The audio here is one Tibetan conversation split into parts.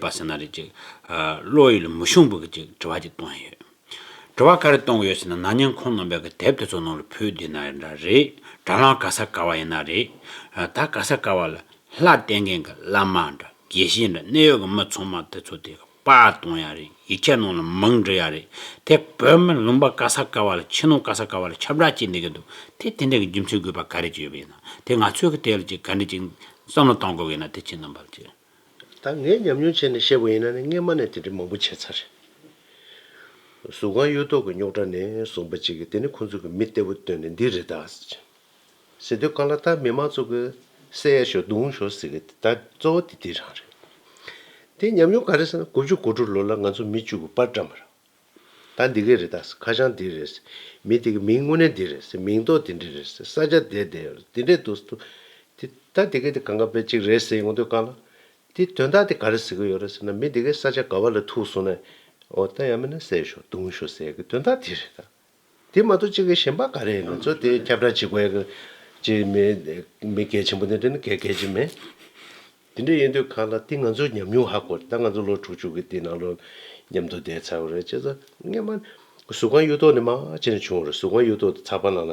པ་ཟེར་ན་རེད་ཅིག། བློ་ཡུལ་མི་ཤོང་བུ་གི་ཅིག་དྲི་བ་ཅིག་གཏོང་ཡ་ཡོད། དྲི་བ་ག་རེ་གཏོང་གི་ཡོད་ཟེར་ན་ན་ཉན་ཁོང་རྣམ་པས་གི་དེབ་དེ་ཚོ་ནང་ལ་ཕུལ་བསྡད་ན་ཡོད་འདྲ་རེད། དྲ་ལམ་ག་ས་ག་བ་ཡིན་ན་རེད། ད་ག་ས་ག་བ་ལ་ལྷ་བསྟེན་མཁན་གི་བླ་མ་འདྲ་དགེ་བཤེས་འདྲ་གནད་ཡོད་གི་མི་ཚང་མ་དེ་ཚོ་དེ་གི། པ་གཏོང་ཡ་རེད་ཡིག་ཆ་ནང་ལ་མང་འབྲི་ཡ་རེད་དེ་བོད་མི་ལུང་པ་ཀ་ས་ཀ་བ་ལ་ཕྱི་ནང་ཀ་ས་ཀ་བ་ལ་ཁྱབ་བསྒྲགས་བྱེད་འདི་གི་འདུག་དེ་དེ་འདྲ་གི་རྒྱུ་མཚན་དགོས་པ་ག་རེ་ཅིག་ཡོད་པ་ཡིན་ན་དེ་ང་ཚོས་གི་དེ་ལ་ཅིག་ག་འདྲི་ཅིག་བསམ་བློ་གཏང་དགོས་གི་ཡིན་ན་དེ་ཕྱི་ནང་པ་ལ་ཅིག་ད་ངས་ཉམས་མྱོང་བྱས་ནས་བཤད་པ་ཡིན་ན་ནི་སྔས་མ་ནས་དེ་འདྲི་མང་པོ་བྱས་ཚར་གཟུགས་ཁང་གཡུ་ཐོག་གི་རྙོག་དྲ་ནས་བཟུང་པ་ཅིག་གི་དེ་ནི་ཁོང་ཚོ་གི་མི་གཏེ་བོ་བཏོན་ནས་འདི་རེད་ད། ཟེར་དུས་ག་ལ་ལྟར་མི་མང་ཚོ་གིས་བསད་ཡ་ཞོག་རྡུང་ཞོག་ཟེར་གི་ད་གཙོ་བོ་དེ་དེ་རང་རེད། དེ་ཉམས་མྱོང་ག་རེ་ཟེར་ན་དགུ་བཅུ་གོ་དྲུག་ལོ་ལ་ང་ཚོ་མི་བཅུ་གུ་པར་འགྲམ་པར། ད་འདི་གས་རེད་ད་ཟེར་ཁ་བྱང་འདི་རེད་ཟེར་མི་དེ་གི་མིང་དངོས་གནས་འདི་རེད་ཟེར་མིང་ཐོག་དེ་འདྲི་རེད་ཟེར་ས་ཆ་དེ་དེ་རེད་དེ་འདྲས་འདུག་ཟེར་དུས། དེ་ད་འདི་གས་དེ་གང་ག་པའི་ཅིག་རེད་ཟེར་ཡོང་དུས་ག་ལ། དེ་དོན་དག་དེ་ག་རེ་ཟེར་གི་ཡོད་རེད་ཟེར་ན་མི་འདི་གས་ས་ཆ་ག་བ་ལ་ཐུག་སོང་ན། འོ་ད་ཡང་མིན་ན་བསད་ཞོག་རྡུང་ཞོག་ཟེར་གི་དོན་དག་དེ་རེད་ད། དེ་མ་གཏོགས་གཅིག་གི་ཞེན་པ་ག་རེ་ཡིན་ན་ཚོ་དེ་ཁྱབ་བསྒྲགས་བྱེད་དགོས་ཡག་གི་མི་མི་གལ་ཆེན་པོ་ནི་དེ་ནི་གལ་གལ་ཆེ་མེད། དེ་འདྲ་ཡིན་དུས་ཁ་ལ་དེ་ང་ཚོ་ཉམས་མྱོང་ཧ་གོ་ད་ང་ཚོ་ལོ་དྲུག་ཅུ་གི་དེ་ནང་ལོ་ཉམས་དོ་བསྡད་ཚར་བ་རེད་བྱས་ཙང་སྔན་མ་གཟུགས་ཁང་གཡུ་ཐོག་ནས་མ་ཕྱི་ནས་བྱུང་བ་རེད་གཟུགས་ཁང་གཡུ་ཐོག་ཏུ་ཚགས་པར་ནང་ལ་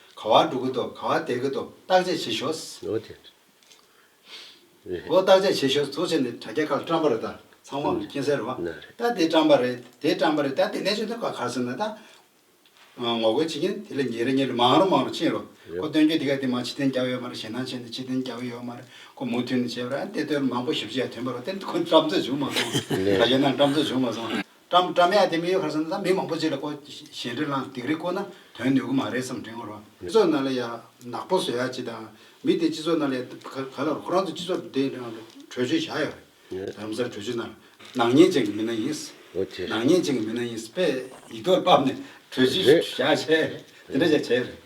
ག་བ་འགྲོ་གི་འདུག་ག་བ་བསྡད་ཀྱི་འདུག་བརྟག་དཔྱད་བྱེད་ཞོག། ལོ་དེ་རེད། ལོ་བརྟག་དཔྱད་བྱེད་ཞོག་གཙོ་ཆེ་ནི་དྲ་རྒྱ་ཁག་བཀྲམ་པ་རེད་ད་ཚང་མ་མཁྱེན་གསལ་རེད། ན་རེད། ད་དེ་བཀྲམ་པ་རེད་དེ་བཀྲམ་པ་རེད་ད་དེ་གནས་ཆུང་དེ་ག་གར་སོང་ན་ད། ངོ་རྒོལ་བྱེད་མཁན་དེ་ལས་ཉེ་རེ་ཉེ་རེ་མང་རུ་མང་རུ་ཕྱིན་རུང་ཁོ་སྟོན་རྒྱུ་དེ་ག་དེ་མ་ཕྱི་ཐེན་རྒྱག་ཡོད་མ་རེད་ཞེད་སྣང་ཆེ་ནི་ཕྱི་ཐེན་རྒྱག་གི་ཡོད་མ་རེད་ཁོ་མུ་མཐུད་ནས་བྱས་པ་རེད་ཨ་དེ་ལྟོས་ལ་མང་པོ་ཞིབ་ཕྱི་ཡ་ཐོན་པ་རུ་དེ་ཁོ་བཀྲམ་ཚོད་བྱུང་མ་སོང། དྲ་རྒྱ་ནང་བཀྲམ་ཚོད་བྱུང་མ་སོང། བཀྲ་མི་བཀྲ་མ་ཡ་དེ་མི་ཡོད་ཁར་སོང་ན་ད་མི་མང་པོ་བྱས་ལ་ཁོ་ཞལ་འདྲེ་བླངས་སྡིག་རིགས་བཀོལ་ན་དོན་ནུས་གུ་མ་རེད་བསམ་དྲན་ངོ་རོ། སྤྱི་ཚོགས་ནང་ལ་ཡ་ནག་པོ་བཟོ་ཡ་ཅི་དང་མི་དེ་སྤྱི་ཚོགས་ནང་ལ་ཡ་ག་ལ་རུ་ཁོ་རང་ཚོ་སྤྱི་ཚོགས་དེ་ནང་ལ་བྲོས་བྱོལ་བཞག་ཡོད་རེད་རང་སར་བྲོས་བྱོལ་ནང་ལ་ནག་ཉེས་ཅན་གྱི་མི་སྣ་ཡིན་ནག་ཉེས་ཅན་གྱི་མི་སྣ་ཡིན་པས་ཡིག་ཐོག་བཏབ་ནས་བྲོས་བྱོལ་བཞག་བྱས་དེ་འདྲ་བྱས་བྱས་ཡོད་རེད།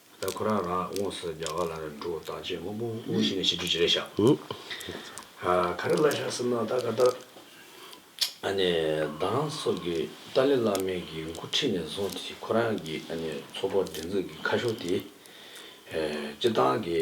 ད་ཁོ་རང་རང་དབུངས་སུ་རྒྱ་གར་ལ་འགྲོ་བར་བཏང་རྗེས་སྔོན་པོ་དབུ་བཞི་ནས་ཕྱི་དྲོའི་བྱེད་ལས་བཞག། ག་རེ་གླ་ཞག་སེམས་ནང་བཏགས་ག་ལྟར། ཨ་ནེ་གདང་སོགས་ཀྱི་ཏཱ་ལའི་བླ་མའི་གི་མགོ་ཁྲིད་ནས་བཟུང་སྟེ་ཁོ་རང་གི་ཨ་ནེ་ཚོགས་པ་སྒྲིག་འཛུགས་ཀྱི་ཁ་ཤོ་དེ། སྤྱི་བཏང་གི།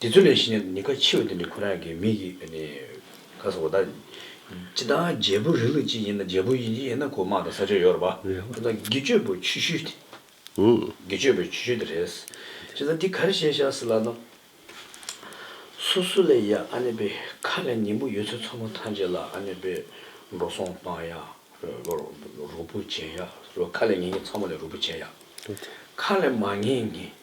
དེ་ཚོ་ལས་ཤི་ནས་ནི་ཁ་འཆི་བ་དེ་ནི་ཁོ་རང་གི་མིག་གིས་ནི་ཁ་སོ་བ་དང། ཅི་ད་རྒྱལ་པོ་རི་ལུ་ཅི་ཡིན་ན་རྒྱལ་པོ་ཡིན་ཅི་ཡིན་ན་གོ་དམག་དང་ས་ཆོད་ཡོད་རེད་པ། ཅི་ད་དགེ་སྤྱོད་པོ་ཆུ་ཤུལ་དེ། དགེ་སྤྱོད་པོའི་ཆུ་ཤུལ་དེ་རེད། ཅི་ད་འདི་ག་རེ་བྱས་ཤག་སི་ལ་ད། སུ་སུ་ལས་ཡ་ཨ་ནེ་པེ་ཁ་ལས་ཉིན་མོ་ཡོད་ཚོད་ཚོ་མོ་ཐང་རྗེ་ལ་ཨ་ནེ་པེ་འགྲོ་སོང་བཏང་ཡ། རུ་པུ་བྱས་ཡ། ཁ་ལས་ངེ་ངེ་ཚ་མོ་ལས་རུ་པུ་བྱས་ཡ། ཁ་ལས་མ་ངེ་ངེ།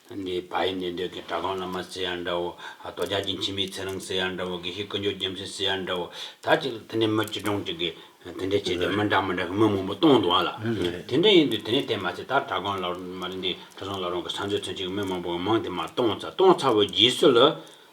འདི་བ་ཡི་འདི་འདོད་ཀྱི་གྲགས་སྟོང་བླ་མ་སེ་ཡང་འདྲ་བོ། རྡོ་རྗག་གི་འཆི་མེད་ཚེ་རིང་སེ་ཡང་འདྲ་བོ་དགེ་བཤེས་ཀུན་སྦྱོར་རྒྱལ་མཚན་སེ་ཡང་འདྲ་བོ། ད་ཅིག་ལ་དེ་འདྲའི་མི་སྤྱི་གྲངས་ཅིག་གིས་དེ་འདྲའི་བྱས་ཏེ་མི་འདྲ་མི་འདྲ་གི་མི་མང་པོ་བཏང་འདུག་ཨ་ལ། དེ་འདྲ་ཡིན་དུས་དེ་ནས་དེ་མ་ཚད་ད་གྲྭ་སྒང་ལ་མ་རེད་འདི་གྲུ་ཟོང་ལ་རང་གི་ས་མཚོའི་ཚུན་ཆད་ཀྱི་མི་མང་པོ་ངས་མང་དེ་མ་བཏང་ཚར་བཏང་ཚར་བའི་རྗེས་སུ་ལ།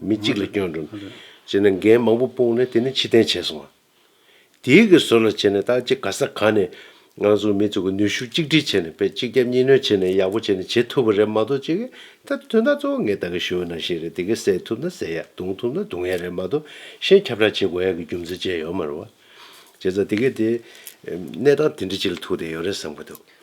མི་གཅིག་ལ་སྐྱོན་འགྲོ། ཅེས་ནས་འགན་མང་པོ་སྤུངས་ནས་དེ་ནས་ཕྱིར་འཐེན་བྱས་སོང། དེའི་གི་ཟོར་ལ་བྱས་ནས་ད་ཅི་ག་ས་ག་ནས་ང་ཚོ་མི་ཚོ་གི་ནུས་ཤུགས་གཅིག་སྒྲིལ་བྱས་ནས་དཔེ་གཅིག་རྒྱབ་གཉིས་གནོན་བྱས་ནས་ཡག་པོ་བྱས་ནས་བྱེད་ཐུབ་པ་རེད་མ་གཏོགས་ཅི་གི་ད་དོན་དག་གཙོ་བོ་ངས་ད་གི་ཞུ་ན་ཤེས་རེད་དེ་གི་བསད་ཐུབ་ན་བསད་ཡག་རྡུང་ཐུབ་ན་རྡུང་ཡག་རེད་མ་གཏོགས་གཞན་ཁྱབ་བསྒྲགས་བྱེད་དགོས་ཡག་གི་རྒྱུ་མཚན་བཅས་ཡོད་མ་རུང་བ། བྱས་ཙང་དེ་གི་དེ། གནས་སྟངས་དེ་འདྲི་བྱེད་ལ་ཐུག་བསྡད་ཡོད་རེད་བསམ་གི་འདུག།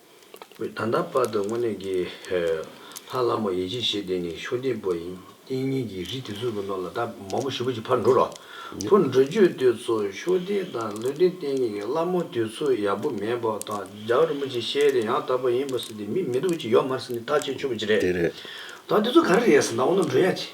ད་ལྟ་བར་དུ་དངོས་གནས་ཀྱི། ལྷ་བླ་མ་ཡེ་བྱེད་ཞེས་དེ་ནི་མཆོད་རྟེན་པོ་ཡིན། རྟེན་གཉིས་ཀྱི་རི་དེ་ཚོའི་ནང་ལ་ད་མ་བུ་བཞི་བོ་ཅིག་ཕར་འགྲོ་རོགས། ཕུར་འགྲོ་རྒྱུ་དེ་ཚོ་མཆོད་རྟེན་དང་ལུས་རྟེན་རྟེན་གཉིས་ཀྱི་བླ་མ་དེ་ཚོ་ཡག་པོ་མེད་པ་དང་ལྗགས་རིན་པོ་ཆེ་ཤེས་རིག་ཡང་དག་པ་ཡིན་པ་ཟེར་ཏེ་མི་མི་སྡུག་ཅིག་ཡོད་མ་རེད་ཟེར་ནས་ཐག་བཅད་ཆོག་གི་རེད། ད་དེ་ཚོ་ག་རེ་རེད་ཟེར་ན་འོ་ན་འགྲོ་ཡ་ཅི།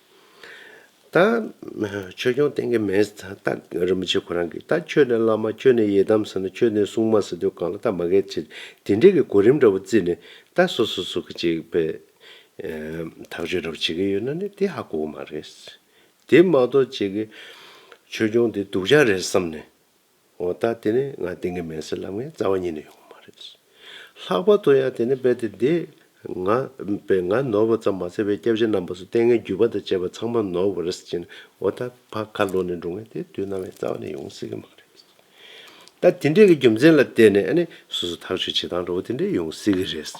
ད་ཆོས་སྐྱོང་བསྟན་གྱི་མེས་རྟག་རིན་པོ་ཆེ་ཁོ་རང་གིས་ད་ཁྱོད་ནས་བླ་མ་ཁྱོད་ནས་ཡི་དམ་ཟེར་ན་ཁྱོད་ནས་སྲུང་མ་ཟེར་དུས་གང་ལ་ད་མ་གལ་ཆེ་དེ་འདྲས་ཀྱི་གོ་རིམ་འདྲ་བོ་བརྩིས་ནས་ད་སོ་སོ་སོ་གི་ཅིག་པའི་ཐག་གཅོད་འདྲ་བོ་བྱེད་ཀྱི་ཡོད་ན་ནི་དེ་ཧ་གོ་གི་མ་རེད། དེ་མ་གཏོགས་ཅིག་གི་ཆོས་སྐྱོང་དེ་སྡུག་ཅག་རེད་བསམ་ནས། འོ་ད་དེ་ནི་ང་དེང་གི་མེན་སི་ལབ་ངའི་རྩ་བ་ཉིད་ནས་ཡོང་བ་མ་རེད། ལྷག་པར་དུ་ཡང་དེ་ནི་རྦད་དེ་འདི། ང། པས་ང་ནོར་བ་ཙམ་མ་ཟད་པའི་སྐྱབས་གཞི་རྣམ་པ་སུ་ལྟས་ངན་བརྒྱུད་པ་དང་བཅས་པ་ཚང་མ་ནོར་བ་རེད་ཅེ་ན་འོ་ད་ཕ་ཁ་ལོ་ནས་འགྲོ་ངའི་དེ་དུས་ནང་བའི་རྩ་བ་ནས་ཡོང་སྲིད་གི་མ་རེད། ད་དེ་འདྲས་ཀྱི་རྒྱུ་མཚན་ལ་བལྟས་ནས་ཨ་ནི་སོ་སོ་ཐག་གཅོད་བྱེད་སྟངས་འདྲ་བོ་དེ་འདྲས་ཡོང་སྲིད་གི་རེད།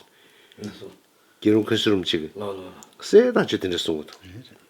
རྒྱལ་རོང་ཁུལ་སི་རུམ་གཅིག་གི། སའི་ཐག་གཅོད་དེ་འདྲས་གསུང་གི་འདུག།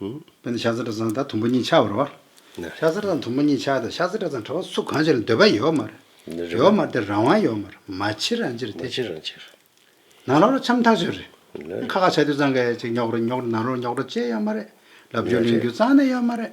དཔེར་ན་ཤ་ཟ་བྲ་ཟ་དང་དུམ་བུ་གཉིས་ཆགས་པར་བ། ཤ་ཟ་བྲ་དང་དུམ་བུ་གཉིས་ཆགས་དང་ཤ་ཟ་བྲ་དང་བྲ་བ་སུ་གང་ཞིག་ལ་འདོད་པ་ཡོད་མ་རེད། ཡོད་མ་རེད་དེ་རང་དབང་ཡོད་མ་རེད་མ་ཕྱིར་རང་ཕྱིར་དེ། ནང་ལོགས་ལ་འཆམ་ཐག་ཆོད་རེད། ཁ་ཁ་ཆ་དུས་ཚང་ག་ཡ་ཅིག་ཉོག་རེད་ཉོག་རེད་ནང་ལོགས་ལ་ཉོག་དྲ་ཅེས་ཡོད་མ་རེད། ལབ་རྒྱུ་ལེན་རྒྱུ་གཙང་ནས་ཡོད་མ་རེད།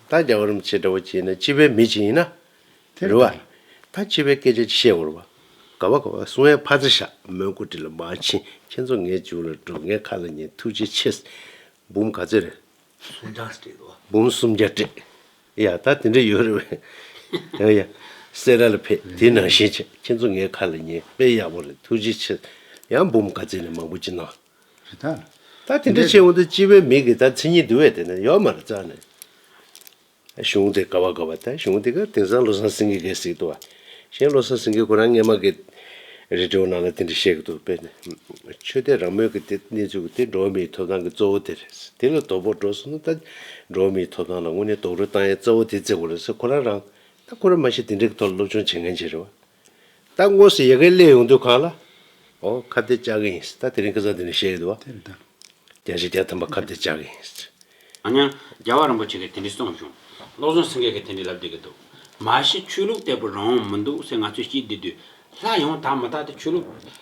ད་རྒྱ་གར་མི་ཚེ་འདྲ་བོ་སྐྱེལ་ན་སྤྱི་པའི་མི་ཅིག་ཡིན་ན། རེ་བ། ད་སྤྱི་པའི་སྐད་ཆ་ཅིག་བཤད་འོར་བ། ག་བ་ག་བ་སུ་ངའི་ཕ་ཚ་ཞག་མོན་སྐུ་དྲི་ལ་མ་ཕྱིན་ཁྱེད་ཚོ་ངའི་མཇུག་ལ་འགྲོ་ངའི་ཁ་ལ་ཉན་ཐུགས་རྗེ་ཆེ། འབུམ་ག་ཚོད་རེད། སུམ་བརྒྱ་སྤྲད་དོ། འབུམ་སུམ་བརྒྱ་སྤྲད། ཡ་ད་དེ་འདྲ་ཡོད་རེད་བས། ཡ་ཡ། སེ་ར་ལ་ཕེབས་དེ་ནང་བཞིན་བྱས་ཁྱེད་ཚོ་ངའི་ཁ་ལ་ཉན་དཔེ་ཡག་པོ་རེད་ཐུགས་རྗེ་ཆེ། ཡང་འབུམ་ག་ཚོད་ནས་མང་པོ་ཅིག་གནང། རེད་ད། ད་དེ་འདྲ་བྱས་འོང་དུ་སྤྱི་བའི་མིག་གིས་ད་མཚན་ཉིད་འདུལ་བའི་དེ་ན་ཡོག་མ་རེད་རྩ་ནས། གཞུང་དེ་ག་བ་ག་བ་ད་གཞུང་དེ་ག་དེང་སང་བློ་བཟང་སེང་གེ་གས་སྲིད་དོ། གཞན་བློ་བཟང་སེང་གེ་ཁོ་རང་སྔས་མ་གས། རི་གྲོ་ནང་ལ་དེ་འདྲ་བཤད་གི་འདུག་དཔེར་ན། ཆོས་དད་རང་མོས་ཀྱི་དེ་གནས་ཚུལ་གྱི་དེ་འགྲོ་བ་མིའི་ཐོབ་ཐང་གི་གཙོ་བོ་དེ་རེད། དེ་ལ་དོ་ཕོག་འགྲོ་སོང་ན་ད། འགྲོ་བ་མིའི་ཐོབ་ཐང་ལ་དངོས་གནས་རྡོག་རོལ་བཏང་ཡས་རྩ་བོ་དེ་བརྩེ་དགོས་ལ་སེ་ཁོ་རང་རང། ད་ཁོ་རང་མ་ཤེས་དེ་འདྲ་གི་ཐོག་ལ་སློབ་སྦྱོང་བྱེད་མཁན་ཅིག་རེད་བ། ད་དངོས་སུ་ཡི་གེ་གླེང་ཡོང་དུས་གང་ལ། ཨོ་ཁ་བརྡའི་ལྕགས་ཀྱི་ཡིན་སྲིད་ད་དེ་རིང་སྐལ་བཟང་དེ་ནས་བཤད་ཡོད་དུ་བ། དེ་རེད་ད། རྒྱལ་སྤྱིའི་རྒྱལ་དམ་པ་ཁ་བརྡའི་ལྕགས་ཀྱི་ཡིན་སྲིད། ཨ་ཉ། རྒྱལ་བ་རིན་པོ་ཆེ་གིས་དེ་འདྲི་གསུངས་བྱུང། བློ་བཟང་སེང་གེ་གིས་དེ་འདྲི་ལབ་བསྡད་ཀྱི་འདུག། མ་གཞི་ཆོས་ལུགས་དེ་བོད་རང་དབང་མི་འདུག་སེ་ང་ཚོས་སྐྱིད་བསྡད་དུས། ལྷ་ཡོངས་དག་མི་དག་དེ་ཆོས་ལུགས།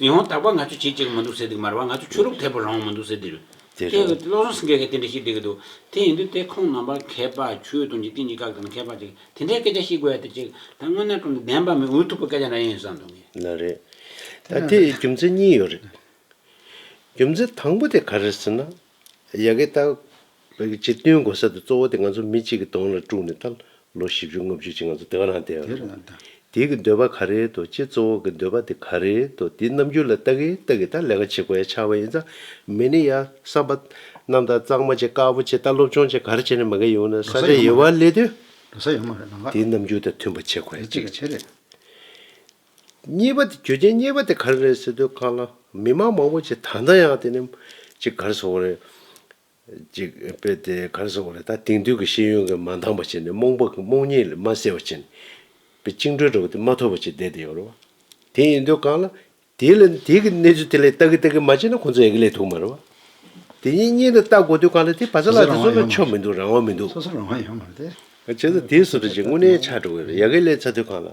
ཉི་ཧོང་དག་པ་ང་ཚོས་བྱེད་ཅེས་ཀྱི་མི་འདུག་ཟེར་འདུག་མར་བ་ང་ཚོས་ཆོས་ལུགས་ཐད་པོ་རང་དབང་མི་འདུག་ཟེར་འདུག་དེ་རེད། ཁྱེད་བློ་བཟང་སེང་གེ་གིས་དེ་འདྲ་བཤད་བསྡད་ཀྱི་འདུག་དེ་ཡིན་དུས་དེ་ཁོང་རྣམ་པ་མཁས་པ་ཆོས་དང་འཇིག་རྟེན་གྱི་བཀའ་ལྟར་མཁས་པ་ཅིག་དེ་འདྲའི་སྐད་ཆ་བཤད་དགོས་ཡ་དེ་ཅིག་ད་དངོས་གནས་ཁྲོམ་དུ་བདེན་པ་མིན་འུ་ཐུག་པའི་སྐད་ཆ་འདྲ་ཡིན་བསམ་འདུག་ངས། ན་རེ། དེ་ན་དེ་རེད། རྒྱུ་མཚན་གཉིས་ཡོད་རེད། རྒྱུ་མཚན་དང་པོ་དེ་ག་རེད་ཟེར་ན། ཡ་གི་ཏཱ། ཅེས་བསྟུན་དགོས་ས་དེ་གཙོ་བོ་དེ་ང་ཚོ་མི་གཅིག་གི་དོན་ལ་དཀྲུགས་ནས་ད་ལོ་བཞི་བཅུ་ལྔ་བཅུ་ཅིག་ང་ཚོ་དེ་ག་རང་བསྡད་ཡོད་རེད། དེ་གི་འདོད་པ་ག་རེད་དོ་ཅེས་གཙོ་བོ་གི་འདོད་པ་དེ་ག་རེད་དོ་དེ་རྣམ་འགྱུར་ལ་ལྟ་གི་ལྟ་གི་ད་ལས་ཀ་བྱེད་དགོས་ཡ་ཆགས་པ་ཡིན་ཙང་མི་ནི་ཡ་བསམ་པ། རྣམ་དག་གཙང་མ་བྱེད་དཀར་པོ་བྱེད་ད་སློབ་སྦྱོང་བྱེད་ག་རེ་བྱེད་ནས་མི་ག་ཡོང་ནས་ས་ཆ་ཡེ་བ་ལས་དོན། དེ་རྣམ་འགྱུར་དང་མཐུན་པ་བྱེད་དགོས་ཡ་གཅིག་གི་ཆེད་རེད། གཉིས་པ་དེ་གྱོད་ཆེན་གཉིས་པ་དེ་ག་རེ་རེད་ཟེར་དུས་ཁག་ལ་མི་མང་མང་པོ་ཅིག་ད་ལྟ་ཡང་དེ་ནི་ཅིག་ག་རེ་བཟོ་བ་རེད། ཅིག་དཔེ་དེ་ག་རེ་བཟོ་བ་རེད་ད་དེང་དུས་ཀྱི་ཤེས་ཡོན་གྱི་མ་འདང་པ་ཅིག་ནི་རྨོངས་པ་རྨོངས་གཉིད་ལས་མ་སད་པ་ཅིག་ནི་དཔེ་བཅིངས་འགྲོལ་འདྲ་བོ་དེ་མ་ཐོབ་པ་ཅིག་བསྡད་དེ་ཡོད་རེད་བ། དེ་ཡིན་དུས་གང་ལ་དེ་ལ་དེ་གི་གནས་ཚུལ་དེ་ལས་ལྟ་གི་ལྟ་གི་མ་བྱས་ན་ཁོང་ཚོ་ཡག་གི་ལས་ཐུག་མ་རེད་བ། དེ་གཉིས་གཉིས་ལ་བལྟ་དགོས་དུས་གང་ལ་དེ་བ་ཚ་ལགས་དེ་ཚོ་ལ་ཆོ་མི་འདུག་རང་དབང་མི་འདུག། བྱས་ཙང་དེའི་སུ་དྲ་ཅིག་དངོས་གནས་ཆགས་འགྲོ་གི་རེད་ཡག་གི་ལས་ཚ་དུས་གང་ལ་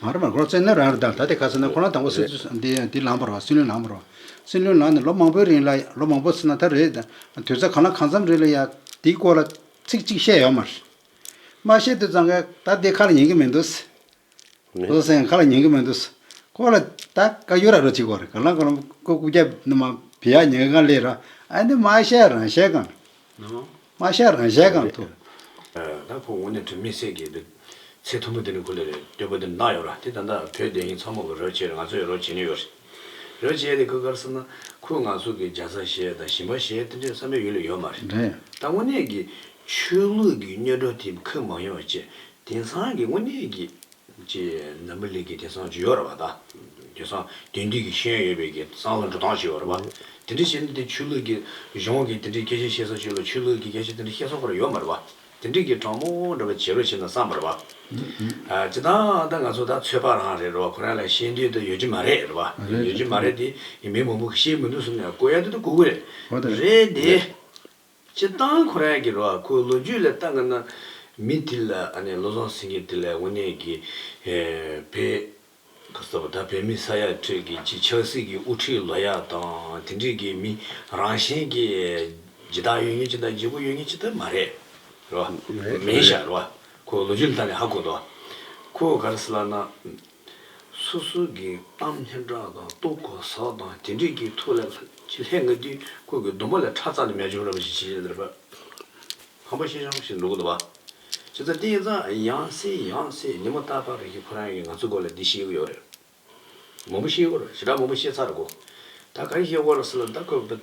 ང་རང་ལ་ལོ་ཙཱའི་སྣོད་རང་རེད་ད་དེ་ག་ཚོད་ན་ཁོ་རང་དང་པོ་སི་འདི་ལངས་པར་རོ་སྲིད་བློན་ལངས་པར་རོ། སྲིད་བློན་ལངས་ནས་ལོ་མང་པོའི་རིང་ལ་ལོ་མང་པོ་སི་ན་ད་རེད་དུས་ཚོད་གང་ལ་གང་འཚམ་རེད་ལ་ཡ་འདིའི་སྐོར་ལ་ཚིག་གཅིག་བཤད་ཡོད་མ་རེད། མ་བཤད་དུས་ཙང་ག་ད་དེ་ཁ་ལ་ཉན་གི་མི་འདུག་སི། བློ་སེང་ཁ་ལ་ཉན་གི་མི་འདུག་སི། ཁོ་ལ་ད་ག་ཡུ་ར་རོ་གཅིག་གོ་རེད་ག་ལ་ག་ལ་ཁོ་སྐུ་རྒྱབ་ནི་མ་བི་ཡ་ཉན་གང་ལེ་ར་ཨ་འདི་མ་བཤད་རང་བཤད་གང། མ་ཤ་རང་ཤའི་སྒང་དུ། ད་ཁོ་ངོ་ནས་དོན་མེད་སེ་གེ་འདུག། ཚེ་མཐོན་པོ་འདི་ནི་ཁོ་ལས་རེད་སྟོན་པོ་འདི་ནི་ནག་ཡོད་ར་དེ་ད་ལྟ་བོད་བདེན་ཞིང་ཚ་མོ་གི་རོལ་ཆས་རེད་ང་ཚོ་ཡང་རོལ་བྱེད་ནི་ཡོད་རེད། རོལ་བྱེད་དེ་ཁོས་གར་བསམ་ན་ཁོས་ང་ཚོ་གི་རྒྱ་བཟའ་ཞེས་དང་ཞིམ་པ་ཞེས་དེ་འདྲའི་བསམ་པའི་ཡུལ་ལ་ཡོད་མ་རེད། ད་དངོས་གནས་ཀྱི་ཆོས་ལུགས་ཀྱི་སྨྱོ་སྒྲོ་དེ་ཁོས་མ་ཡོང་བ་བཅས་དེང་སང་གི་དངོས་གནས་ཀྱི། ཅེས་འཛམ་བུ་གླིང་གི་དེང་སང་ཇི་ཡོད་ར་བ་དང། དེང་སང་དེང་དུས་ཀྱི་ཤེས་ཡོན་ཡོད་པའི་དེང་སང་ལ་འགྲོ་སྟངས་ཇི་ཡོད་ར་བ། དེ་འདྲའི་ཤེས་ཡོན་དེ་ཆོས་ལུགས་ཀྱི་གཞུང་གི་དེ་འདྲའི་སྐད་ཆ་བཤད་སར་ཆོས་ལུགས་ཆོས་ལུགས་ཀྱི་སྐད་ཆ་དེ་འདྲ་བཤད་སྲོག་པར་ཡོད་མ་ར་བ། དེ་འདྲས་ཀྱི་དྲང་མོ་འདྲ་བ་བྱེད་རོགས་བྱེད་ན་བསམ་པར་བ། ཅི་ལྟར་ད་ང་ཚོ་ད་ཚོད་པ་རང་རེད་ར་བ་ཁོ་རང་ལ་ཤེས་འདོད་དུ་ཡོད་ཀྱི་མ་རེད་ར་བ། ཡོད་ཀྱི་མ་རེད་དེ་མི་མང་པོ་ཤེས་མི་འདུག་གསུངས་ནས་བསྐོ་ཡ་དེ་དུ་བསྐོ་གི་རེད་དེ། སྤྱིར་བཏང་ཁོ་རང་གི་རོ་ཨ་ཁོའི་ལོ་རྒྱུས་ལས་བརྟག་དགོས་ན། མི་དེ་ལ་ཨ་ནེ་བློ་བཟང་སེང་གེ་དེ་ལས་དབུ་ནེ་གི་བེ། ཁ་སང་ད་བོད་མི་ས་ཡ་ཁྲོད་ཀྱི་སྤྱི་ཆགས་སྲིད་ཀྱི་དབུ་ཁྲིད་ལོ་ཡ་དང་དེ་འགྲིག་གི་མི་རང་བཞིན་གྱི་ཇི་ལྟར་ཡོད་ངེས་ཅི་ལྟར་འཇིགས་པོ་ཡོད་ངེས་ཅི་ལྟར་མ་རེད་རོ་ཨ་མེན་ཤ་རོ་ཨ་ཁོའི་ལོ་རྒྱུས་ལ་བརྟག་ནས་ཧ་གོ་འདུག་ཨ་ཁོ་ག་རེ་ཟེར་ལགས་ན། སོ་སོ་གི་གཏམ་སྙན་གྲགས་དང་སྟོབས་གོ་སར་དང་དེ་འདྲས་ཀྱི་ཐུགས་ལ་ལྷད་ང་དུས་ཁོ་གི་སྡོམ་པ་ལས་ཁྲག་རྩ་ནས་མེ་བྱུང་ར་བ་ཞིག་བྱེད་ཅེས་དར་པ་ཧམ་པ་ཤེས་བྱང་ཞིག་འདུག་གདའ་བ། ཇི་ལྟར་བསྟན་ཙང་ཡང་སྲིད་ཡང་སྲིད་ཉི་མ་རྟ་ཕག་རིགས་ཀྱི་ཕོ་རང་གིས་ང་ཚོའི་སྐོར་ལ་འདི་ཤེས་གི་ཡོད་རེད། མང་པོ་ཤེས་གི་རེད་ཞེ་དྲག་མང་པོ་ཤེས་ཚར་གོ། ད་ག་རེ་ཤེས་དགོས་ར་ཟེར་ལ་ད་ཁོས་བོད།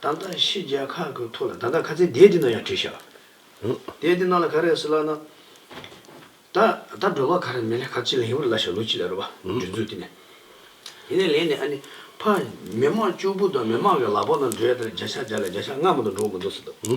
ད་ལྟ་ཕྱི་རྒྱལ་ཁག་གི་ཐོག་ལ་ད་ལྟ་ཁ་ཚིག་འདས་དེ་ན་ཡང་བྲིས་ཤག་འདས་དེ་ན་ལ་ག་རེ་ཟེར་ལགས་ན། ད་ད་སྒྲོལ་བ་ག་རེ་མེད་ལ་ཁ་ཚིག་ལ་ཡིན་བར་ལ་ཞག་ལོ་གཅིག་ལ་རོལ་བ་འབྲུ་མཛོད་དེ་ནས་དེ་ནས་ལེན་ནས་ཨ་ནི་ཕ་མི་དམངས་གཅུག་པུ་དང་མི་དམངས་ཀྱི་ལག་པ་ན་འབྲོས་དེར་རྒྱ་ཤག་རྒྱ་ལ་རྒྱ་ཤག་སྔ་མོ་དང་འགྲོ་མི་འདུག་ཟེར་དུ།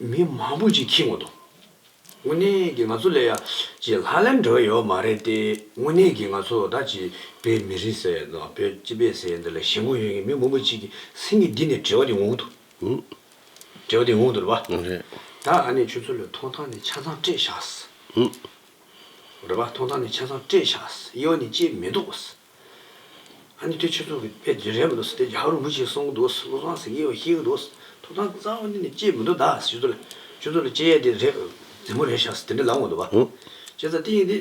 མི་མང་པོ་ཅིག་ཁྱི་ངོ་དང། དངོས་གནས་ཀྱི་ང་ཚོ་ལས་ཡ་གཅིག་ལྷ་ལེམ་འགྲོ་ཡོད་མ་རེད་དེ་དངོས་གནས་ཀྱི་ང་ཚོ་ད་ཅི་བོད་མི་རིགས་ཟེར་ཡོད་དང་བོད་སྤྱི་པའི་ཟེར་ཡོད་འདི་ལ་ཞེན་ཁོག་ཡོད་ཀྱི་མི་མང་པོ་ཅིག་གི་སེམས་ཀྱི་འདི་ནས་བྲེལ་བ་དེ་ངོག་དུ། བྲེལ་བ་དེ་ངོག་དུ་རེད་པ། ད་ཨ་ནེ་ཁྱོད་ཚོ་ལོས་ཐོང་ཐང་ནས་ཆ་ཚང་སྤྲད་བཞག། རེད་པ་ཐོང་ཐང་ནས་ཆ་ཚང་སྤྲད་བཞག་གཡས་ནས་བཅད་མི་འདུག། ཨ་ནི་དུས་ཆེན་ཚོགས་ཀྱི་དཔེ་རེད་མི་འདུག་ཟེར་ཏེ་རྒྱ་གར་རིན་པོ་ཆེས་གསུང་གི་འདུག་བློ་བཟང་སེང་གེས་བཤད་ཀྱི་འདུག་ཐོབ་ཐང་གཙང་བོ་འདི་ནི་སྐྱེས་མི་འདུག་ད་ཆུ་ཚོད་ལ་ཆུ་ཚོད་ལ་སྐྱེས་ཡས་དེ་རེད་རྫིང་བུ་རེད་ཤག་ཟེར་དེ་འདྲ་ལབ་འོང་འདུག་བ། སྐྱེས་ཚ་ཏིང་ཡིན་དེ་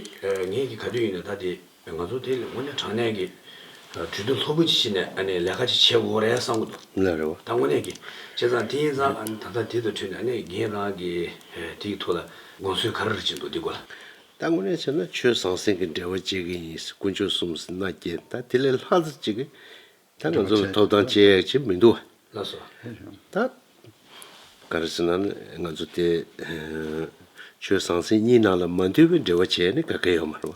ངེད་ཀྱིས་ག་དུས་ཡིན་ན་ད་དེ་ང་ཚོ་དེ་ལས་སྔོན་ནས་དྲང་གནས་ཀྱི་གྲོས་བསྡུར་ལྷོད་པོ་ཅིག་བྱས་ནས་ཨ་ནི་ལས་ཀ་ཅིག་བྱེད་དགོས་རེད་བསམ་གྱི་འདུག་ད་དངོས་གནས་ཀྱི་སྐྱེས་ཚ་ཏིང་ཡིན་ཙང་ཨ་ནི་ད་ལྟ་དེ་ཚོའི་ཁྲོད་ནས་ཨ་ནི་ངེད་རང་གིས་དེའི་ཐོག་ལ་དགོངས་ཚུལ་ག་རེ་རེ་བྱེད་འདུག་དེའི་སྐོར་ལ། ད་དངོས་གནས་བྱས་ན་ཆོས་ཟང་ཟིང་གི་འབྲེལ་བ་བཅད་གི་ཡིན་སྲིད་དཀོན་མཆོག་གསུམ་སྲིད་ན་རྒྱལ་ད་དེ་ལས་ལྷག་རྩི་གཅིག་གིས་ད་ང་ཚོ་ལ་ཐོབ་ཐང་བཅད་ཡག་བྱེད་མི་འདུག་ད། ག་རེ་ཟེར་ན་ང་ཚོ་དེ་ཆོས་ཟང་ཟིང་གཉིས་ནང་ལ་མ་འདུས་པའི་འབྲེལ་བ་བྱས་ནས་ག་གེ་ཡོད་མ་རེད་བ།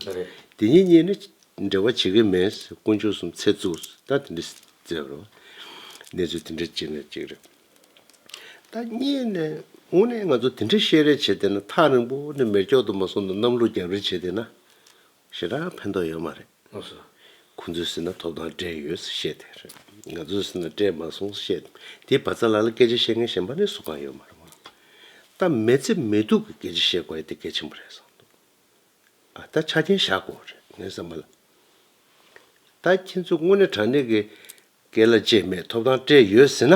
དེ་གཉིས་གཉིས་ནི་འབྲེལ་བ་བྱེད་གི་མེད་སྲིད་དཀོན་མཆོག་གསུམ་ཚད་བཙུགས་སྲིད་ད་དེ་འདྲི་བརྩད་བར་བ། གནས་ཚུལ་དེ་འདྲ་གཅིག་ནས་གཅིག་རེད། ད་རྙེད་ནས་དངོས་གནས་ང་ཚོ་དེ་འདྲའི་བཤད་རེས་བྱེད་བསྡད་ན་ཐག་རིང་པོ་ནས་མེར་སྐྱོག་ཏུ་མ་སོང་ན་གནམ་ལོ་རྒྱབ་རེ་བྱེད་བསྡད་ན་ཞེ་དྲག་ཕན་ཐོགས་ཡོད་མ་རེད། ཁོང་ཚོས་ཟེར་ན་ཐོབ་ཐང་སྤྲད་ཡོད་ཟེར་བཤད་བསྡད་རེད། ང་ཚོས་ཟེར་ན་སྤྲད་མ་སོང་ཟེར་བཤད་བསྡད། དེ་བ་ཚྭ་ལགས་ལ་སྐད་ཆ་བཤད་མཁན་གཞན་པ་ནས་སུ་གང་ཡོད་མ་རེད། སྟབས་མེད་ཚེ་མེད་སྡུག་གི་སྐད་ཆ་བཤད་དགོས་ཨེ་དེ་གལ་ཆེན་པོ་རེད་བསམ་འདུག། ད་ཆ་རྒྱན་བཞག་གོ་རེད་ངས་བསམ་པ་ལ། ད་ཁྱེད་ཚོས་དངོས་གནས་དྲང་གནས་ཀྱི་སྐད་ལ་བཅས་མེད་ཐོབ་ཐང་སྤྲད་ཡོད་ཟེར་ན།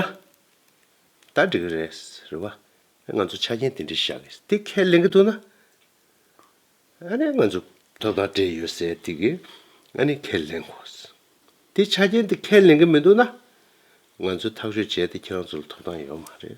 ད་འགྲིག་གི་རེད་ཟེར་བ། ང་ཚོ་ཆ་རྐྱེན་དེ་འདྲའི་བཞག་གི་དེ་ཁས་ལེན་གི་འདུག་ན། ཨ་ནི་ང་ཚོ་ཐོབ་ཐང་སྤྲད་ཡོད་ཟེར་དེ་གི་ཨ་ནི་ཁས་ལེན་གོ། དེ་ཆ་རྐྱེན་དེ་ཁས་ལེན་གི་མི་འདུག་ན། ང་ཚོས་ཐག་གཅོད་བྱས་ཏེ་ཁྱེད་རང་ཚོ་ལ་ཐོབ་ཐང་ཡོད་མ་རེད།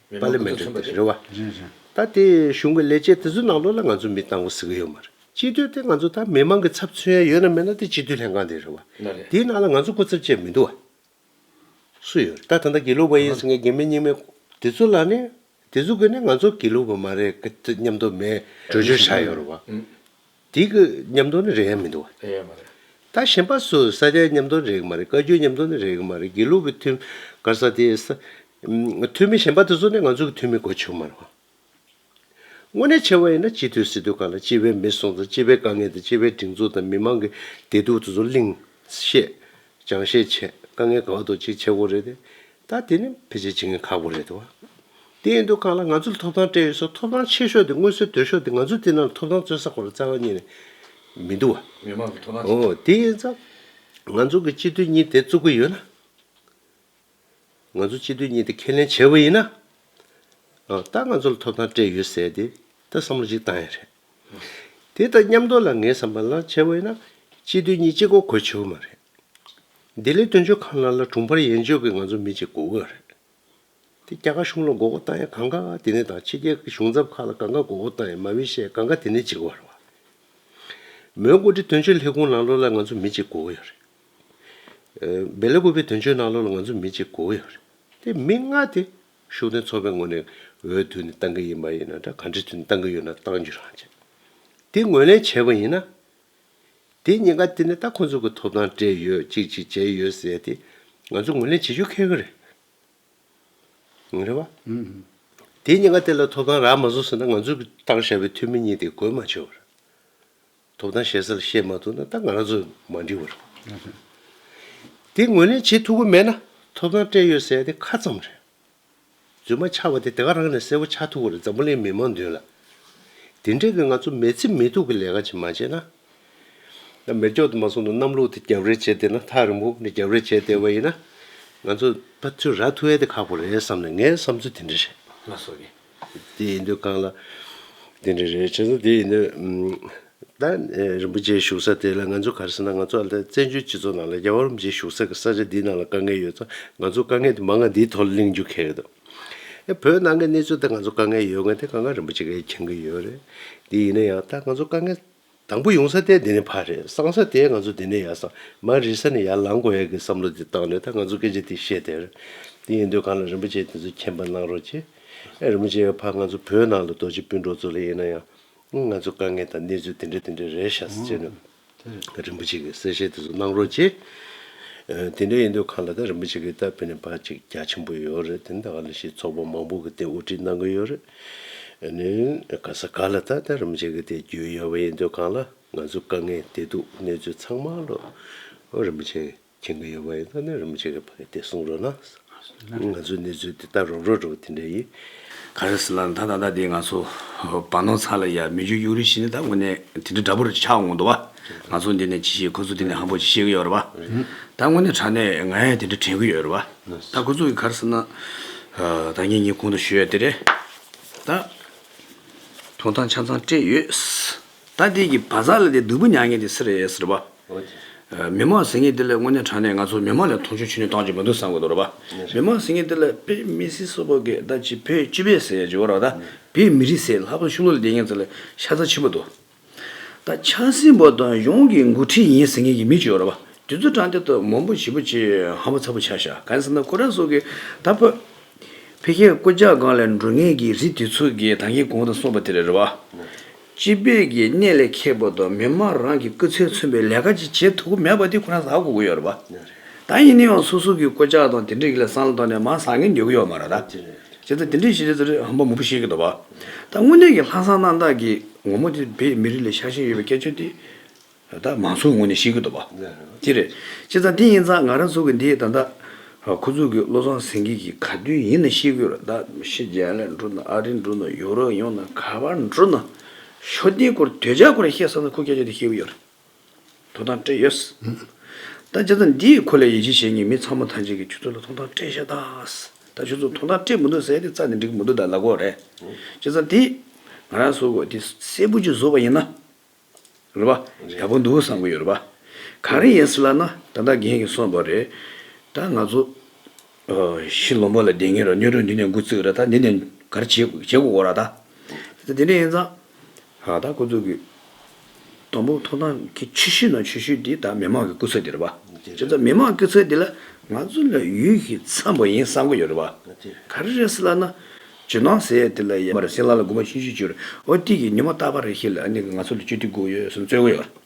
པ་ལས་མི་འགྲིག་པ་རེད་བ། ད་དེ་གཞུང་གི་ལས་བྱེད་དེ་ཚོའི་ནང་ལོགས་ལ་ང་ཚོ་མི་བཏང་གི་ཟིག་གི་ཡོད་མ་རེད། སྤྱི་འཐུས་དེ་ང་ཚོ་ད་མི་མང་གི་ཚབ་མཚོན་ཡ་ཡོད་ན་མེད་ན་དེ་སྤྱི་འཐུས་ལྷན་ཁང་དེ་རེད་བ། དེའི་ནང་ལ་ང་ཚོ་སྐུ་ཚབ་བཅས་མི་འདུག་བ། སུ་ཡོད་རེད་ད་ད་ལྟ་དགེ་ལུགས་པ་ཡིན་ཟེར་མཁན་རྒན་མེད་རྙིང་མེད། དེ་ཚོ་ལ་ནི་དེ་ཚོ་གིས་ནི་ང་ཚོ་དགེ་ལུགས་པ་མ་རེད་སྙམ་དོགས་མེད། བྲོས་བྱོལ་བྱ་ཡོད་རེད་བ། དེ་གི་ཉམས་མདོ་ནི་རེག་ཡ་མི་འདུག། རེག་ཡ་མ་རེད། ད་གཞན་པ་སུ་ས་སྐྱའི་ཉམས་མདོ་ནི་རེག་གི་མ་རེད་བཀའ་བརྒྱུད་ཉམས་མདོ་ནི་རེག་གི་མ་རེད་དགེ་ལུགས་ཀྱི་ཐུན། གར་ས་དེ་ས། ཐུན་མི་གཞན་པ་དེ་ཚོ་ནི་ང་ཚོ་གི་ཐུན་མི་གོ་ཆོག་མ་རེད། དངོས་གནས་ཕྱེ་བ་ཡིན་ན་སྤྱི་འཐུས་སྲིད་དོན་ཁང་ལ་སྤྱི་བའི་མི་སོང་དང་སྤྱི་བའི་དཀའ་ངལ་དང་སྤྱི་བའི་སྒྲིག་འཛུགས་དང་མི་མང་གི་བདེ་སྡུག་དེ་ཚོ་གླིང། བཤད། སྦྱང་བཤད་བྱས་དཀའ་ངལ་གང་དུ་ཅིག་ཆེ་དགོ་རེད་དེ། ད་དེ་ནི་ཕལ་ཆེར་བྱེད་མཁན་ཁག་པོ་རེད་དོ། དེ་ཡིན་དུས་གང་ལ་ང་ཚོ་ལ་ཐོབ་ཐང་སྤྲད་ཡོད་སོགས་ཐོབ་ཐང་ཆེ་ཤོས་དེ་དངོས་གསོལ་དོད་ཤོས་དེ་ང་ཚོ་དེ་རྣམས་ལ་ཐོབ་ཐང་རྩོད་ས་གོ་ལ་རྩ་བ་ཉིད་ནས་མི་འདུག་བ། མི་མང་གི་ཐོབ་ཐང་ཆེ་ཨོ་དེ་ཡིན་ཙང་ང་ཚོ་གི་སྤྱི་འཐུས་གཉིས་དེ་བཙུགས་ཀྱི་ཡོད་ན། ང་ཚོ་སྤྱི་འཐུས་གཉིས་དེ་ཁས་ལེན་བྱས་པ་ཡིན་ན། ད་ང་ཚོ་ལ་ཐོབ་ཐང་སྤྲད་ཡོད་ཟེར་དེ་ད་བསམ་བློ་གཅིག་བཏང་ཡ་རེད། དེ་དང་མཉམ་འདོར་ལ་ངའི་བསམ་པར་ན་ཆེ་བས་ན་སྤྱི་དོན་གཉིས་གཅིག་གོ་གོ་ཆོད་མ་རེད། འདི་ལས་དོན་གཅོད་ཁང་ལ་ལ་དྲུང་འཕར་ཡན་ཆོད་ཀྱི་ང་ཚོ་མི་གཅིག་གོ་གི་རེད། དེ་རྒྱ་གར་གཞུང་ལ་མགོ་བོ་བཏང་ཡ་གང་ག་དེ་ནས་དང་ཕྱི་རྒྱལ་གྱི་གཞུང་ཚབ་ཁག་ལ་གང་ག་མགོ་བོ་བཏང་ཡ་མ་བི་ཤས་གང་ག་དེ་ནས་གཅིག་བར་བ། མོན་གོ་ཏི་དོན་གཅོད་ལྷེ་ཁུང་ནང་ལོག་ལ་ང་ཚོ་མི་གཅིག་གོ་གི་ཡ་རེད། བེ་ལ་གུ་བའི་དོན་གཅོད་ནང་ལོག་ལ་ང་ཚོ་མི་གཅིག་གོ་གི་ཡ་རེད། དེ་མི་ལྔ་དེ་ཤུགས་ནི་ཚོགས་པའི་ངོས་ནས་འོས་བསྡུ་ནི་གཏང་གི་ཡིན་པ་ཡིན་ན་འདྲ་ག་འབྲེལ་མཐུད་ནས་གཏང་གི་ཡོད་ན་གཏང་རྒྱུ་རང་བྱེད། དེ་ངོས་ལེན་བྱས་པ་ཡིན་ན། དེ་ཉེན་ཁ་དེ་ནི་ད་ཁོང་ཚོ་གི་ཐོབ་ཐང་སྤྲད་ཡོད་ཅིག་ཅིག་བྱས་ཡོད་ཟེར་ཏེ་ང་ཚོ་ངོས་ལེན་བྱེད་རྒྱུ་ཁེལ་གི་རེད། ངོ་རེ་བ། དེ་ཉེན་ཁ་དེ་ལ་ཐོབ་ཐང་རག་མ་བཟོ་ཟེར་ན་ང་ཚོ་གི་གཏང་བཞག་པའི་འཐུས་མི་གཉིས་དེ་དགོས་མ་བྱུང་བར། ཐོབ་ཐང་བཤད་སར་བཤད་མ་ཐུབ་ན་ད་ང་རང་ཚོ་མ་འབྲི་བར། དེ་ངོས་ལེན་བྱེད་ཐུབ་ཀྱི་མེད་ན་ཐོབ་ཐང་སྤྲད་ཡོད་ཟེར་དེ་ཁ་ཙམ་རེད། རྫུན་མ་ཆགས་པ་དེ་དེ་ག་རང་ནས་གསལ་བོ་ཆགས་ཐུབ་བར་འཛམ་བུ་གླིང་མི་མང་མདུན་ལ། དེ་འདྲས་ཀྱི་ང་ཚོ་མེད་ཚེ་མེད་ཐུབ་ཀྱི་ལས་ཀ་ཅིག་མ་བྱས་ན། ད་མེར་སྒྱོགས་དུ་མ་སོང་ན་གནམ་ལོག་དུ་རྒྱབ་རེ་བྱས་བསྡད་ན་ཐག་རིང་པོ་ནས་རྒྱབ་རེ་བྱས་བསྡད་པ་ཡིན་ན། ང་ཚོ་ད་ཚོད་ར་ཐུ་ཨེ་དེ་ཁག་པོ་རེད་བསམ་ནས་ངའི་བསམ་ཚུལ་དེ་འདྲ་རེད། དེ་ཡིན་དུས་གང་ལ་དེ་འདྲ་རེད་བྱས་ན་དེ་ཡིན་དུས། ད་རིན་པོ་ཆེ་བཞུགས་ས་དེ་ལ་ང་ཚོ་ག་རེ་ཟེར་ན་ང་ཚོ་ཨ་ལྟ་བཙན་བྱོལ་སྤྱི་ཚོགས་ནང་ལ་རྒྱ་བོད་རིན་པོ་ཆེ་བཞུགས་ས་གི་ས་ཆ་འདི་ནང་ལ་དཀའ་ངལ་ཡོད་ཙང་ང་ཚོ་དཀའ་ངལ་དེ་མ་ང་འདིའི་ཐོག་ལ་གླེང་རྒྱུ་གལ་འདུག་ཨེ་བོད་ནང་གི་གནས་ཚུལ་ལྟར་ང་ཚོ་དཀའ་ངལ་ཡོད་ང་དེ་གང་ག་རིན་པོ་ཆེ་ག་ཡིན་མཁྱེན་གི་ཡོད་རེད་དེ་ཡིན་ན་ཡང་ད་ང་ཚོ་དཀའ་ངལ། དང་པོ་ཡོང་ས་དེ་འདི་ནས་ཕར་རེད་སང་ས་དེ་ང་ཚོ་འདི་ནས་ཡར་སང་མ་རེད་ས་ནས་ཡར་ལང་དགོས་ཡ་གི་བསམ་བློ་དེ་བཏང་ནས་ད་ང་ཚོ་སྐད་ཆ་དེ་བཤད་དེར་དེ་ཡིན་དུས་གང་ལ་རིན་པོ་ཆེ་དེ་ཚོ་མཁྱེན་པ་གནང་རོགས་གྱིས། ཨེ་རིན་པོ་ཆེ་ཡ་ཕ་ང་ཚོ་བོད་ནང་ལ་རྡོ་རྗེ་སྤུན་གྲོགས་ཚོ་ལ་དབྱེ་ན་ཡང་ང་ཚོ་དཀའ་ངལ་དང་གནས་ཚུལ་དེ་འདྲ་དེ་འདྲ་རེད་ཤག་ས་བྱས་ནས་རིན་པོ་ཆེ་གི་གསལ་བཤད་དེ་ཚོ་གནང་རོགས་གྱིས། དེ་འདྲ་ཡིན་དུས་གང་ལ་ད་རིན་པོ་ཆེ་གི་ད་བོད་ནས་ཕར་ཅིག་རྒྱ་ཆེན་པོ་ཡོད་རེད་དེ་ནི་ད་ག་ལ་ཤེས་ཚོགས་པ་མང་པོ་གི་སྟེང་དབུ་ཁྲིད་གནང་གི་ཡོད་རེད། ནི། ག་ས་ག་ལ་ད་ལྟ་རིམ་བྱེད་ཀྱི་དེ་རྒྱུས་ཡོད་པ་ཡིན་དུས་གང་ལ་ང་ཚོ་དཀའ་ངལ་དེ་འདུག་གནས་ཚུལ་ཚང་མ་ལོ་རིམ་བྱེད་མཁྱེན་གྱི་ཡོད་པ་ཡིན་ད་ནི་རིམ་བྱེད་ཀྱི་ཕ་གི་དེ་གསུང་རོགས་གནང། ང་ཚོའི་གནས་ཚུལ་དེ་ལྟར་རོགས་རོགས་འགྲོ་དེ་འདྲ་ཡིན། ག་རེ་ཟེར་ལ་ད་ད་ལྟ་དེ་ང་ཚོ་བར་ནོར་ཚ་ལ་ཡར་མི་འཇུག་གཡུག་རེ་ཤི་ནི་ད་དངོས་གནས་དེ་འདྲ་འདྲ་པོ་རེ་ཆགས་འོང་འདུག་བ། ང་ཚོ་འདི་ནས་ཇི་བཤད་ཁོ་ཚོ་དེ་ནས་ཧམ་པོ་ཇི་བཤད་ཀྱི་ཡོད་རེད་བ། ད་དངོས་གནས་དྲ་གནས་ངས་དེ་འདྲ་དྲན་གྱི་ཡོད་རེད་བ། ད་ཁོ་ཚོ་གི་གར་ཟེར་ན། ད་ངེད་གཉིས་གོང་དུ་བཞུད་ཡ་དེ་རེད། ད། ཐོང་ཐང་ཆང་ཚང་སྤྲད་ཡོད། ད་དེ་གི་བ་ཟ་ལ་དེ་བདུག་པོ་ཉག་ངེད་དེ་ཟེར་ཡ་ཟེར་བ། མི་མང་ཟེར་ངེད་དེ་ལ་དངོས་གནས་དྲང་གནས་ང་ཚོ་མི་མང་ལ་མཐོང་ཆུང་ཆུ་ནས་བཏང་གྱི་མི་འདུག་བསམ་གི་འདུག་ར་བ། མི་མང་ཟེར་ངེད་དེ་ལ་དཔེ་མི་སྲིད་སོ་པོ་གི་ད་ཅི་བོད་སྤྱི་བས་ཟེར་ཡ་ཅི་བ་ར་བ། དཔེ་མི་རིགས་ཟེར་ལྷག་པོ་ཤུ་ལོ་ལ་དེ་ངེད་ཚོ་ལ་ཤ་ཚ་ཆེན་པོ་འདུག། ད་ཆ་སྲིན་པོ་དང་གཞུང་གི་མགོ་ཁྲིད་ཡིན་ཟེར་མཁན་གྱི་མི་བཅུ་རེ་བ་དེ་ཚོ་དྲ་འདི་ཐོག་མང་པོ་བྱིས་པོ་ཆེ་ཧ་པོ་ཚ་པོ་ཆགས་ཤག་གང་ཟེར་ན་ཁོ་རང་སོགས་ཀྱི་ད་ཕོད་ཕལ་ཁྱད་སྐོ་ཇག་སྒང་ལས་འགྲོ་ངེས་ཀྱི་རི་དེ་ཚོ་གི་ད་ཁྱི་གོང་དུ་སོང་པ་དེ་རེ་རེ་བ། སྤྱི་བེད་ཀྱི་གནས་ལས་ཁེ་པོ་དང་མི་མང་རང་གི་སྐུ་ཚེ་མཚོན་པའི་ལས་ཀ་ཅིག་བྱེད་ཐུབ་གི་མེད་པ་དེ་ཁོ་རང་བཟའ་གོ་གི་ཡོད་རེ་བ། ད་ཡིན་ནའང་སོ་སོ་གི་སྐོ་ཇག་དང་དེ་འདྲས་ཀྱི་ལ་སང་ལ་ཐོག་ནས་མང་བཟང་ངན་འགྱོད་གི་ཡོད་མ་རེད་ད། བྱས་ཙང་དེ་འདྲས་བྱས་ཙང་ཧམ་པ་མང་པོ་ཤེས་གི་འདུག་བ། ད་དངོས་གནས་ཀྱི་ལྷ་བཟང་རྣམ་དག་གིས་ངོ་མོ་དེ་བོད་མི་རིགས་ལས་ཤར་བཞིན་ཡོད་པའི་སྐད་ཆ་དེ་ད་མང་ཚོགས་ངོས་ནས་ཤེས་གི་འདུག་བ། དེ་རེད། ཅི་ཙང་དེ་ཡིན་ཙང་ང་རང་ཚོ་གི་འདི་ད་ལྟ་ཁོ་ཚོ་གི་བློ་བཟང་སེང་གེ་གིས་ག་དུས་ཡིན་ན་ཤེས་གི་རེད་ད་ཕྱི་རྒྱལ་ལ་འགྲོ་ན་ཨ་རི་འགྲོ་ན་ཡོ་རོབ་ཡོང་ན་ག་བར་འགྲོ་ན་ཤོ་དེའི་སྐོར་དོལ་རྒྱལ་སྐོར་ལ་བཤད་ས་ན་ཁོ་སྐད་ཆ་དེ་ཤེས་གི་ཡོད་རེད། ཐོབ་ཐང་སྤྲད་ཡོད། ད་ཆ་ཚ་འདིས་ཁོ་ལས་ཡིད་ཆེས་བྱེད་ངེས་མི་ཚང་མ་ཐང་ཅན་གྱི་ཆུ་ཚོད་ལ་ཐོང་ཐང་སྤྲད་ཤ་ཐག། ད་ཆུ་ཚོད་ཐོང་ཐང་སྤྲད་མི་འདུག་ཟེར་ཏེ་ཚ་འདི་འགྲིག་མི་འདུག་ད་ལ་གོ་རེད། ཅེས་ཚ་འདིས་ང་རང་བཟོ་དགོས་འདི་སྲས་པོ་གཅིག་བཟོ་བ་ཡིན་ན། རེད་པ། ཡག་པོ་འདུག་བསམ་གྱི་ཡོད་རེད་པ། གང་རེད་ཡིན་སྲིད་ལབ་ན་ད་ལྟ་རྒན་གྱི་སོང་བ་རེད། ད་ང་ཚོ། ཤི་ལོ་མོ་ལ་བསྡད་ངེས་རེད་སྨྱོ་སྒྲོན་འདི་ནས་འགུ་བརྩིགས་རེད་ད་འདི་ནས་ག་རེ་བྱེད་དགོས་གོ་ར་ད། ཅེས་ཚ་འདི་འདྲ་ཡིན་ཙང། ལ་དྭགས་སྐུ་ཚོགས་ཀྱི་དང་པོ་ཐོག་ཐང་གི་ཆུ་ཤུལ་ནང་ཆུ་ཤུལ་དེ་དག་མི་མང་གི་སྐུ་ཚོགས་དེ་རེད་པ། དེ་ཚོ་མི་མང་སྐུ་ཚོགས་དེ་ལ་ང་ཚོ་ལ་ཡུལ་གྱི་འཚམས་པོ་ཡིན་བསམ་གི་ཡོད་རེད་པ། ག་རེ་རེད་ལབ་ན། ཇོ་ནང་ཟེར་ཡས་དེ་ལ་ཡ་མ་རེད་སེང་ལ་ལ་དགུ་མ་ཤུ་ཤུ་བཅུ་རེད་ཨོ་ཏི་གི་ཉི་མ་རྟག་པ་རེད་ཤེས་ལ་ཨ་ནི་ང་ཚོ་ལ་བཅུ་ཏི་དགུ་ཡོད་བསམ་རྩོད་གི་ཡོད།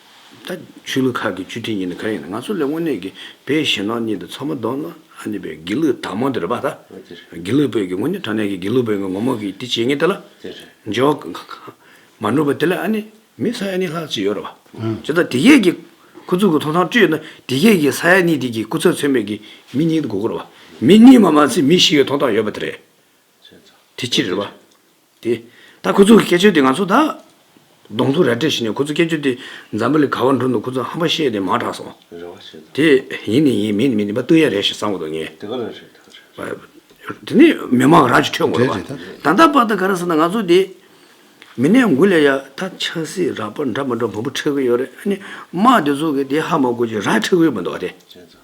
ད་ཆོས་ལུགས་ཁག་གི་བཅུ་ཁྲི་གཉིས་ནི་གང་ཡིན་ན་ང་ཚོ་ལས་དངོས་གནས་ཀྱི་བོད་ཞེན་ནོ་གཉིས་དང་ཚོགས་མ་གདོང་ནོ་གཉིས་པའི་དགེ་ལུགས་དག་མང་དུ་རེད་པ་ད། དགེ་ལུགས་བོད་ཀྱི་དངོས་གནས་དྲང་གནས་ཀྱི་དགེ་ལུགས་བོད་ཀྱི་ངོ་མ་གིས་དེ་བྱེད་ངེས་དེ་ལ། འཇོག་གི་ཁ་ཁ། མ་འགྲུབ་པ་དེ་ལས་ཨ་ནི་མི་ས་ཡ་གཉིས་ལྷག་ཅིག་ཡོད་རེད་པ། བྱས་ཙང་དེ་གས་ཀྱི་ཁུ་ཚུར་གྱི་ཐོག་ཐང་བཅུ་ཡོད་ན་དེ་གས་ཀྱི་ས་ཡ་གཉིས་དེ་གྱི་སྐུ་ཚབ་ཚོད་མེད་ཀྱི་མི་གཉིས་དགོས་ཀྱི་རེད་པ། མི་གཉིས་མ་མ་ཚད་མི་བཞི་ཡོད་ཐོག་ཐང་ཡོད་པ་དེ་རེད། དེ་ཅི་རེད་པ། དེ། ད་ཁོ་ཚོ་གི་སྐད་ཆོད་དེ་ང་ཚོ་ད། གདོང་ཐུག་རལ་གྲི་བྱིན་ནས་ཁོ་ཚོ་སྐད་ཆོད་དེ། འཛམ་བུ་ལི་ག་བར་འགྲོ་འདུག་ཁོ་ཚོ་ཧམ་པ་བཤད་དེ་མང་དྲགས་སོང། རེ་བ་བྱེད་དོ། དེ། ཡིན་ནི་ཡིན་མིན་ནི་མིན་དེ་པ་སྟོན་ཡ་རེད་ཞེས་བསམ་གོ་དོ་ངས། དེ་ག་རང་རེད་ཐག་རེད། བ། དེ་ནི་མི་མང་རང་གྱི་ཁྲོད་འགོ་རེད་བ། ད་ལྟ་བར་དུ་ག་རེ་ཟེར་ན་ང་ཚོ་དེ། མི་ནས་མགུ་ལས་ཡ་ད་ཆགས་སྲིད་རག་པར་འདྲ་མི་འདྲ་བོང་བུ་ཁྲེགས་གི་ཡོད་རེད་ཨ་ནི་དམག་དེ་ཚོ་གི་དེ་ཧ་མ་གོ་ཅིག་རག་ཁྲེགས་གི་ཡོད་མི་འདུག་བ་དེ། བྱས་ཙང།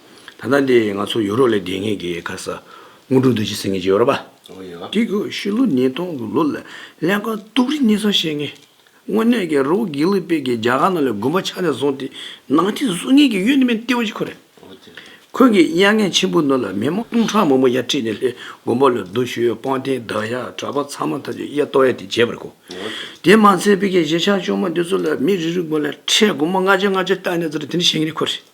ད་ལྟ་འདི་ང་ཚོ་ཡོ་རོབ་ལས་བདེ་ངེས་ཀྱི་ཁ་ས་སྔོན་འགྲོ་འདུག་ཅེས་ཟེར་ངེས་ཀྱི་ཡོད་རེད་པ། འདི་གོ་ཕྱི་ལོ་ཉིས་སྟོང་གི་ལོ་ལ་ཀླན་ཀ་སྟུག་རིགས་གཉིས་ཚང་བཤད་ངེས། དངོས་གནས་ཀྱི་རོ་བོ་གྷི་ལི་པེ་གྱིས་རྒྱ་གར་ནང་ལས་དགོན་པ་ཆགས་ནས་བཟུང་སྟེ་ནང་ཐིག་བཟོ་ངེས་ཀྱི་ཡོད་ནི་མིན་ལྟེ་བ་གཅིག་ཁོ་རེད། ཁོང་གིས་དབྱར་གནས་ཆེན་པོའི་ནང་ལ་མི་མང་སྟོང་ཕྲག་མང་པོ་ཡར་ཁྲིད་ནས་ལྷའི་དགོན་པ་ལ་རྡོ་བཞུ་སྤང་རྟེན་བདག་ཡར་གྲགས་པ་ཚང་མ་ཐམས་ཅད་གཡས་གཏོར་གཡས་དེ་བྱས་པ་རེད་གོ། དེ་མ་ཚད་བོད་ཀྱི་གཞིས་ཆགས་ཆུང་མ་འདི་ཚོ་ལ་མི་རེ་རེའི་དགོན་ལ་ཁྲལ་སྒོར་མོ་ལྔ་བརྒྱ་ལྔ་བརྒྱ་བཏང་ནས་ཚར་དེ་འདྲ་བྱེད་ངེས་རེད་ཁོ་རེད།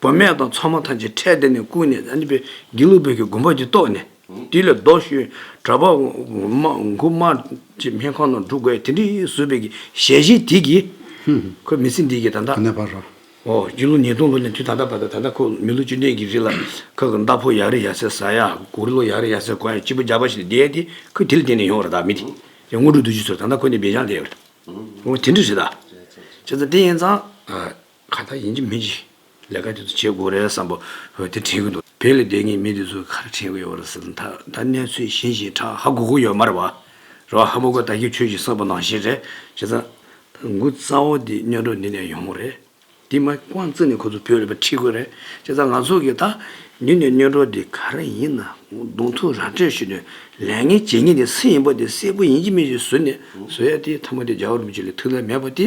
བུད་མེད་དང་ཚོང་མ་ཐམས་ཅད་ཁྲལ་དེ་ནས་བརྐུས་ནས་ཨ་ནི་པའི་དགེ་ལུགས་བོད་ཀྱི་དགོན་པ་འདི་བཏོད་ནས། དེ་ལས་ལྡོག་ཞུས། གྲྭ་པ། མགུར་དམར། ཅེས་སྨན་ཁང་ནང་འདུག་དགོས་དེ་འདྲི་བཟོད་བོད་ཀྱི་ཞལ་བཞེས་དེ་གྱིས། ཁོའི་མི་ཚེ་འདི་གྱིས་ད་ལྟ། ནས་བར་རོ། འོ་སྤྱི་ལོ་ཉིས་སྟོང་ལོ་ནས་དུས་ད་ལྟ་བར་དུ་ད་ལྟ་ཁོ་མི་ལོ་བཅུ་ལྡན་གྱི་རིགས་ལ། ཁོ་གི་མདའ་ཕོ་ཡར་རེ་ཡར་སེར་ཟ་ཡ། གུར་ལོ་ཡར་རེ་ཡར་སེར་གོ་ཡ་སྤྱི་བོ་རྒྱ་བ་ཞིག་ལ་བསྡད་དེ་ཁོས་དེ་ལ་བརྟེན་ནས་ཡོང་བ་རེད་ད་མི་དེ། ཡང་དངོས་གྲུབ་བདུད་རྩི་ཚོར་ད་ལྟ་ཁོ་ནི་སྦེད་བྱང་བསྡད་ཡོད་རེད། འོ་དེ་འདྲི་རེད་ད། ཅེས་ཙང་དེ་ཡིན་ཙང། གང་ལྟར་ཡིན་གྱི་མིན་གྱི། ལས་ཀ་དེ་ཚོ་བྱེད་དགོས་རེད་བསམ་པ། བོད་དེ་དྲན་གི་འདུག་བོད་ལས་སྡོད་ངེས་མི་དེ་ཚོའི་ཁར་དྲན་གི་ཡོད་པ་རེད་ཟེར་ད་ལྟ་གནས་ཚུལ་གཞན་ཞིག་ཁྲ་ཧ་གོ་གི་ཡོད་མ་རེད་བ། རེད་བ་ཧ་མོ་ཀོ་ད་ཁྱོད་ཆོས་ཞིག་གསོག་པ་ནང་བཞིན་རེད་བྱས་ཙང། མགུ་རྩ་བོ་དེ་སྨྱོ་འགྲོ་འདི་ནས་ཡོང་གི་རེད། དེ་མ་དབང་བརྩིས་ནས་ཁོ་ཚོ་བོད་ལས་པ་ཁྲིད་དགོས་རེད་བྱས་ཙང་ང་ཚོ་གིས་ད་ཉིད་ནས་སྨྱོ་འགྲོ་དེ་ག་རེ་ཡིན་ན་གདོང་ཐུག་ར་སྤྲོད་ཞུས་ནས་ལས་ངན་བྱེད་ངེས་དེ་སུ་ཡིན་པ་དེ་གསལ་པོ་ཡིན་གྱི་མིན་གྱི་ཟུར་ནས་བཟོ་ཡ་དེ་ཐ་མ་དེ་རྒྱ་གར་མི་ཆོས་ལས་ཐུགས་ལས་མེད་པ་དེ